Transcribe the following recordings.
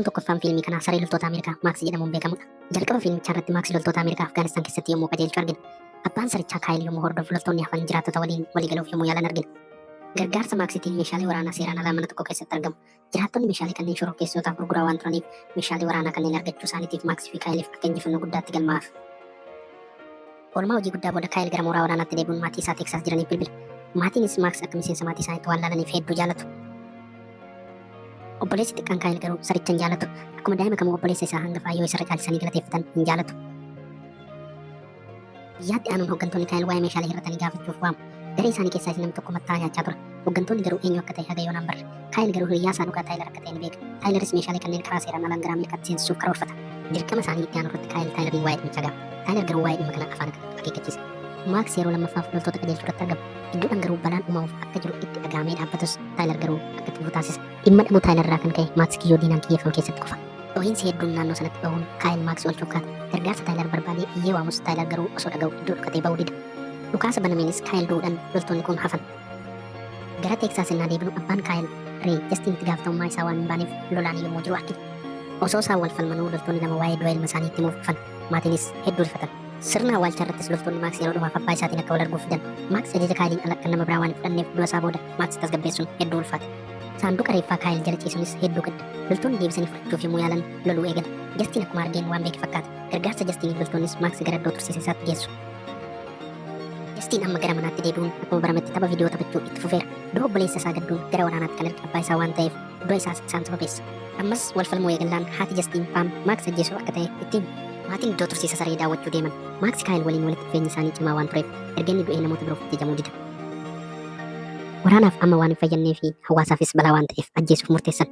Namni tokkoffaan fiilmii kanaa saree loltoota Ameerikaa Maaksi jedhamuun beekamudha. Jalqaba fiilmichaa irratti Maaksi loltoota Ameerikaa Afgaanistaan keessatti yommuu qajeelchu argina. Abbaan sarichaa Kaayil yommuu hordofu loltoonni hafan jiraattota waliin waliigaluuf yommuu yaalan argina. Gargaarsa Maaksitiin meeshaalee waraanaa seeraan alaa mana tokko keessatti argamu. Jiraattonni meeshaalee kanneen shororkeessitootaaf gurguraa waan turaniif meeshaalee waraanaa kanneen argachuu isaaniitiif Maaksii fi Kaayiliif akka injifannoo guddaatti galmaa'aaf. Oolmaa hojii guddaa booda Kaayil gara mooraa waraanaatti deebi'uun maatii isaa Teeksaas jiraniif bilbile. Maatiinis Maaks akka miseensa maatii isaaniitti waan laalaniif hedduu jaalatu. Obboleessi xiqqaan Kaayil garuu saricha hin jaalatu. Akkuma daa'ima kamuu obboleessa isaa hangafaa yoo isarra caalchisanii galateeffatan hin jaalatu. Guyyaatti aanuun hooggantoonni Kaayil waa'ee meeshaalee hir'atanii gaafachuuf waamu. Garee isaanii keessaas nam tokko matta'aa nyaachaa ture. Hooggantoonni garuu eenyu akka ta'e haga yoonaan barre. Kaayil garuu hiriyaa isaa dhugaa Taayilar akka ta'e ni beeka. Taayilaris meeshaalee kanneen karaa seeraan alaan gara Ameerikaatti seensisuuf karoorfata. Dirqama isaanii itti aanu irratti Kaayil Taayilariin waa'ee dhimmicha gaafata. Taayilar garuu waa'ee dhimma kanaa afaan akka akeekkachiisa. Maaks yeroo lammaffaaf loltoota qajeelchuu irratti argama. Gidduudhaan garuu balaan uumamuuf akka jiru itti dhagahamee dhaabbatus Taayilar garuu akka itti fufu taasisa. Dhimma dhabuu Taayilar irraa kan ka'e Maaks kiyyoo diinaan kiyyeeffamu keessatti kufa. Dhohiinsi hedduun naannoo sanatti bahuun Kaayil Maakswel Chuukaat gargaarsa Taayilar barbaadee iyyee waamus Taayilar garuu osoo dhaga'u iddoo dhokatee bahuu dida. Dhukaasa banameenis Kaayil du'uudhan loltoonni kun hafan. Gara Teeksaas innaa deebinu abbaan Kaayil Ree Jastiin itti gaafatamummaa isaa waan hin baaneef lolaan yommuu jiru argina. Osoo isaan wal falmanuu loltoonni lama waa'ee du'a ilma isaanii itti himuuf dhufan. Maatiinis hedduu rifatan. Sirna awwaalchaa irrattis loltoonni Maaks yeroo dhumaaf abbaa isaatiin akka wal arguuf fidan. Maaks ajaja Kaayiliin ala kan nama biraa waan hin fudhanneef du'a isaa booda Maaksi tasgabbeessuun hedduu ulfaate. Saanduqa reeffaa Kaayil jala ciisuunis hedduu gadda. Loltoonni deebisanii fudhachuuf yommuu yaalan loluu eegale. Jastiin akkuma argeen waan beeke fakkaata. Gargaarsa Jastiiniif loltoonnis Maaksi gara iddoo tursiisa isaatti geessu. Jastiin amma gara manaatti deebi'uun akkuma barametti tapha viidiyoo taphachuu itti fufeera. Dura obboleessa isaa gadduun gara waraanaatti kan erge abbaa isaa waan ta'eef du'a isaas isaan sababeessa. Ammas wal falmuu eegallaan haati Jastiin Paam Maaksi ajjeesuuf akka ta'e itti himi. Maatiin iddoo tursiisa saree daawwachuu deeman. Maaksi Kaayil waliin walitti dhufeenyi isaanii cimaa waan tureef erga inni du'ee namoota biroof ajajamuu dida. Waraanaaf amma waan hin fayyannee fi hawaasaafis balaa waan ta'eef ajjeesuuf murteessan.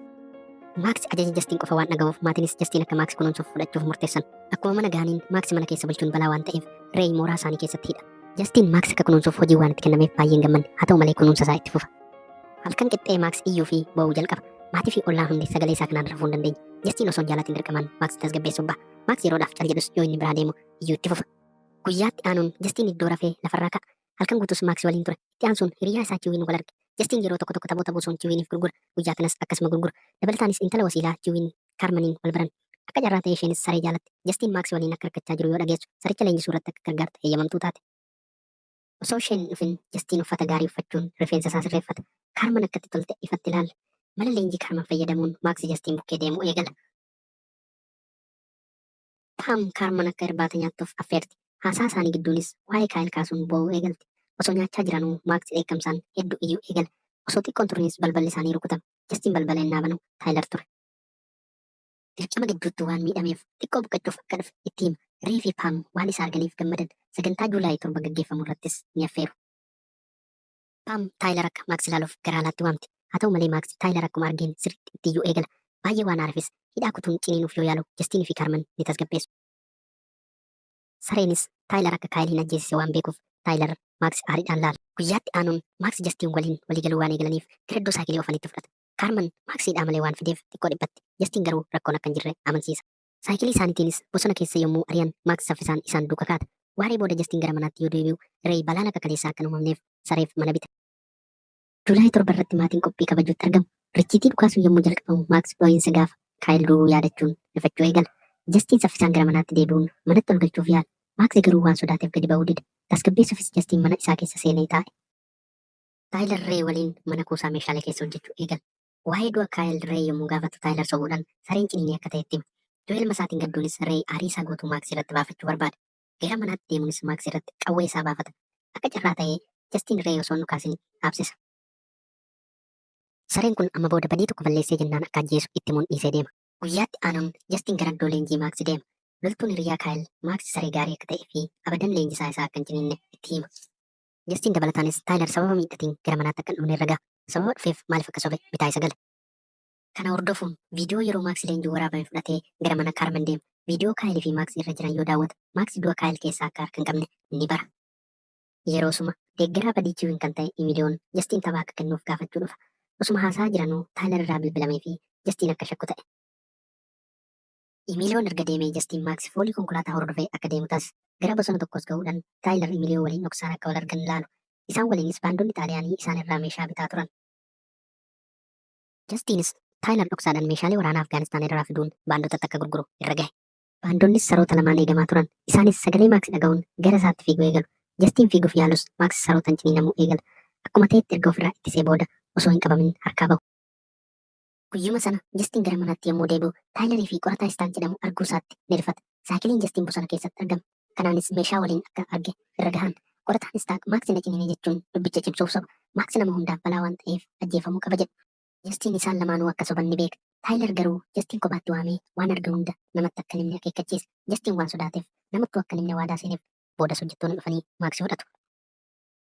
Maaksi ajaja Jastiin qofa waan dhagahuuf maatiinis Jastiin akka Maaksi kunuunsuuf fudhachuuf murteessan. Akkuma mana gahaniin Maaksi mana keessa bulchuun balaa waan ta'eef Reey mooraa isaanii keessatti hidha. Jastiin Maaksi akka kunuunsuuf hojii waan itti kennameef baay'een gammanne haa ta'u malee kunuunsa isaa itti fufa. Halkan qixxee Maaksi iyyuu fi boo'uu jalqaba. Maatii fi ollaan hundi sagalee isaa kanaan rafuu hin dandeenye. Jastiin osoo hin jaalatiin dirqamaan Maaksi tasgabbeessuuf ba'a. Maaksi yeroodhaaf cal jedhus yoo inni biraa deemu iyyuu itti fufa. Guyyaatti aanuun Jastiin iddoo rafee lafarraa ka'a. Halkan guutus Maaksi waliin ture. Itti aansuun hiriyyaa isaa Chiwiin wal arge. Jastiin yeroo tokko tokko taphoota buusuun Chiwiiniif gurgura. Guyyaa kanas akkasuma gurgura. Dabalataanis intala wasiilaa Chiwiin Kaarmaniin wal baran. Akka carraa ta'ee isheenis saree jaalatti. Jastiin Maaksi waliin akka rakkachaa jiru yoo dhageessu saricha leenjisuu irratti akka gargaartu heeyyamamtuu taate. Osoo isheen hin dhufin Jastiin uffata gaarii uffachuun rifeensa isaa sirreeffata. Kaarman akka itti tolte ifatti ilaalla. Mala leenjii Kaarman fayyadamuun Maaksi Jastiin bukkee deemuu eegala. Paam Kaarman akka irbaata nyaattuuf affeerti. Haasaa isaanii gidduunis waa'ee Kaayil kaasuun boo'uu eegalti. Osoo nyaachaa jiranuu Maaksi dheekkamsaan hedduu iyyuu eegala. Osoo xiqqoo hin turinis balballi isaanii rukutame. Jastiin balbala ennaa banu Taayilar ture. Dirqama gidduutti waan miidhameef xiqqoo boqachuuf akka dhufe itti hima. Ree fi Paam waan isa arganiif gammadan. Sagantaa Juulaayi 7 gaggeeffamu irrattis ni affeeru. Paam Taayilar akka Maaksi ilaaluuf gara alaatti waamti. Haa ta'u malee Maaksi Taayilar akkuma argeen sirriitti itti iyyuu eegala. Baay'ee waan aarefis hidhaa kutuun ciniinuuf yoo yaalu Jastiin fi Kaarman ni tasgabbeessu. Sareenis Taayilar akka Kaayil hin ajjeesise waan beekuuf Taayilar Maaksi aariidhaan laala. Guyyaatti aanuun Maaksi Jastiin waliin walii galuu waan eegalaniif gara iddoo saayikilee oofanitti fudhata. Kaarman Maaksi hidhaa malee waan fideef xiqqoo dhiphatti. Jastiin garuu rakkoon akka hin jirre amansiisa. Saayikilii isaaniitiinis bosona keessa yommuu ari'an Maaks saffisaan isaan duuka kaata. Waaree booda Jastiin gara manaatti yoo deebi'u Reey balaan akka kaleessaa akka hin uumamneef sareef mana bita. Juulaay 7 irratti maatiin qophii kabajuutti argamu. Richiitii dhukaasuun yommuu jalqabamu Maaks dhoo'insa gaafa Kaayil du'uu yaadachuun rifachuu eegala. Jastiin saffisaan gara manaatti deebi'uun manatti ol galchuuf yaala. Maaks garuu waan sodaateef gadi ba'uu dida. Tasgabbeessuufis Jastiin mana isaa keessa seenee taa'e. Taayilr Reey waliin mana kuusaa meeshaalee keessa hojjechuu eegala. Waa'ee du'a Kaayil Reey yommuu gaafatu Taayilar sobuudhaan sareen ciniinee akka ta'etti hima. Du'a ilma isaatiin gadduunis Reey aarii isaa guutuu Maaksi irratti baafachuu barbaada. Gara manaatti deemuunis Maaksi irratti qawwee isaa baafata. Akka carraa ta'ee Jastiin Reey osoo hin dhukaasin dhaabsisa. Sareen kun amma booda badii tokko balleessee jennaan akka ajjeesu itti himuun dhiisee deema. Guyyaatti aanuun Jastiin gara iddoo leenjii Maaksi deema. Loltuun hiriyaa Kaayil Maaksi saree gaarii akka ta'ee fi abadan leenjisaa isaa akka hin ciniinne itti hima. Jastiin dabalataanis Taayilar sababa miidhatiin gara manaatti akka hin dhufne irra gaha. Sababa dhufeef maaliif akka sobe bitaa isa gala. Kana hordofuun viidiyoo yeroo Maaksi leenjii waraabame fudhatee gara mana Kaarman deema. Viidiyoo Kaayil fi Maaksi irra jiran yoo daawwatu Maaksi du'a Kaayil keessaa akka harka hin qabne ni bara. Yeroosuma deeggaraa badii Kiwin kan ta'e Imiliyoon Jastiin tapha akka kennuuf gaafachuu dhufa. Osuma haasa'aa jiranuu Taayilar irraa bilbilamee fi Jastiin akka shakku ta'e. Iimiiliyoon erga deemee Jastiin Maaksi foolii konkolaataa hordofee akka deemu taas. Gara bosona tokkoos gahuudhan Taayilar Iimiliyoo waliin dhoksaan akka wal argan ilaalu. Isaan waliinis baandonni Xaaliyaanii isaan irraa meeshaa bitaa turan. Jastiinis Taayilar dhoksaadhan meeshaalee waraanaa Afgaanistaan irraa fiduun baandotatti akka gurguru irra gahe. Baandonnis saroota lamaan eegamaa turan. Isaanis sagalee Maaksi dhagahuun gara isaatti fiiguu eegalu. Jastiin fiiguuf yaalus Maaksi sarootan ciniinamuu eegala. Akkuma ta'etti erga ofirraa ittisee booda osoo hin qabamin harkaa bahu. Guyyuma sana Jastiin gara manaatti yommuu deebi'u Taayilarii fi qorataa Istaan jedhamu arguu isaatti ni rifata. Saayikiliin Jastiin bosona keessatti argame. Kanaanis meeshaa waliin akka arge irra gahan. Qorataan Istaak Maaksi na ciniine jechuun dubbicha cimsuuf soba. Maaksi nama hundaaf balaa waan ta'eef ajjeefamuu qaba jedha. Jastiin isaan lamaanuu akka soban ni beeka. Taayilar garuu Jastiin kophaatti waamee waan arge hunda namatti akka hin himne akeekkachiisa. Jastiin waan sodaateef namattuu akka hin himne waadaa seeneef. Boodas hojjettoonni dhufanii Maaksi fudhatu.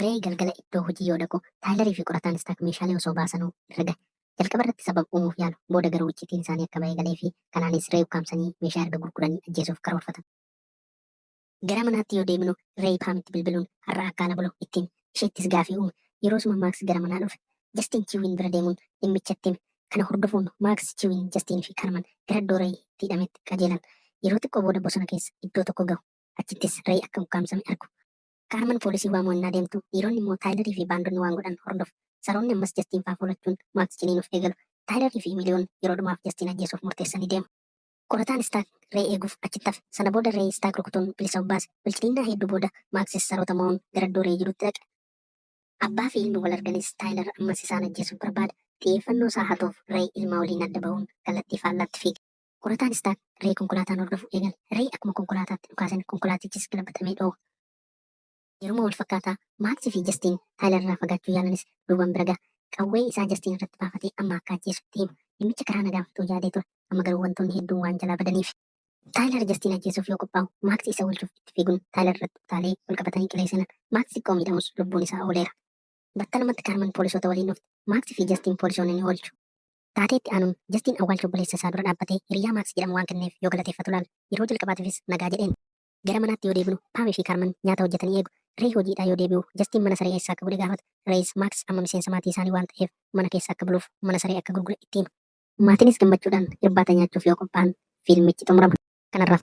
Reey galgala iddoo hojii yoo dhaqu, Taayilarii fi qorataan Istaak meeshaalee osoo baasanuu irra gahe. Jalqaba irratti sababa uumuuf yaalu, booda garuu icciitiin isaanii akka ba'ee galee fi kanaanis Reey ukkaamsanii meeshaa erga gurguranii ajjeesuuf karoorfatan. Gara manaatti yoo deebinu, Reey Paamitti bilbiluun har'a akka ala bulu itti hime. Isheettis gaafii uume. Yeroosuma Maaks gara manaa dhufe. Jastiin Chiwiin bira deemuun dhimmicha itti hime. Kana hordofuun Maaks, Chiwiin, Jastiin fi Karman gara iddoo Reey itti hidhametti qajeelan. Yeroo xiqqoo booda bosona keessa iddoo tokko gahu. Achittis Reey akka ukkaamsame argu. Kaarman poolisii waamuu ennaa deemtu, dhiironni immoo Taayilarii fi baandonni waan godhan hordofu. Saroonni ammas Jastiin faa foolachuun Maaks ciniinuuf eegalu. Taayilarii fi Miliyoon yeroo dhumaaf Jastiin ajjeesuuf murteessanii deemu. Qorataan Istaak Reey eeguuf achitti hafe. Sana booda Reey Istaak rukutuun bilisa of baase. Wal-ciniinnaa hedduu booda, Maaksis saroota mo'uun gara iddoo Reey jirutti dhaqe. Abbaa fi ilmi wal arganis Taayilar ammas isaan ajjeesuuf barbaada. Xiyyeeffannoo isaa hatuuf Reey ilma waliin adda bahuun kallattii faallaatti fiige. Qorataan Istaan Ree konkolaataan hordofuu eegale. Ree akkuma konkolaataatti dhukaasan konkolaatichis galabaxamee dhooha. Yeruma wal fakkaataa Maaksi fi Jastiin Taayilar irraa fagaachuu yaalanis Ruuban bira gaha. Qawwee isaa Jastiin irratti baafatee amma akka ajjeesu itti hima. Dhimmicha karaa nagaan fixuu yaadee ture. Amma garuu wantoonni hedduun waan jalaa badaniif. Taayilar Jastiin ajjeesuuf yoo qophaa'u Maaksi isa oolchuuf itti fiiguun Taayilar irratti utaalee wal qabatanii qilee seenan. Maaksi xiqqoo miidhamus lubbuun isaa ooleera. Battalumatti Kaarman poolisoota waliin dhufte. Maaksi fi Jastiin poolisoonni ni oolchu. Taatee itti aanuun, Jastiin awwaalcha obboleessa isaa dura dhaabbatee hiriyyaa Maaks jedhamu waan kenneef yoo galateeffatu ilaala. Yeroo jalqabaatiifis nagaa jedheen. Gara manaatti yoo deebinu, Paam fi Kaarman nyaata hojjetanii eegu. Reey hojiidhaa yoo deebi'u, Jastiin mana saree eessaa akka godhe gaafata. Reeyis Maaks amma miseensa maatii isaanii waan ta'eef mana keessa akka buluuf mana saree akka gurgure itti hima. Maatiinis gammachuudhaan irbaata nyaachuuf yoo qophaa'an fiilmichi xumurama. Kanarraaf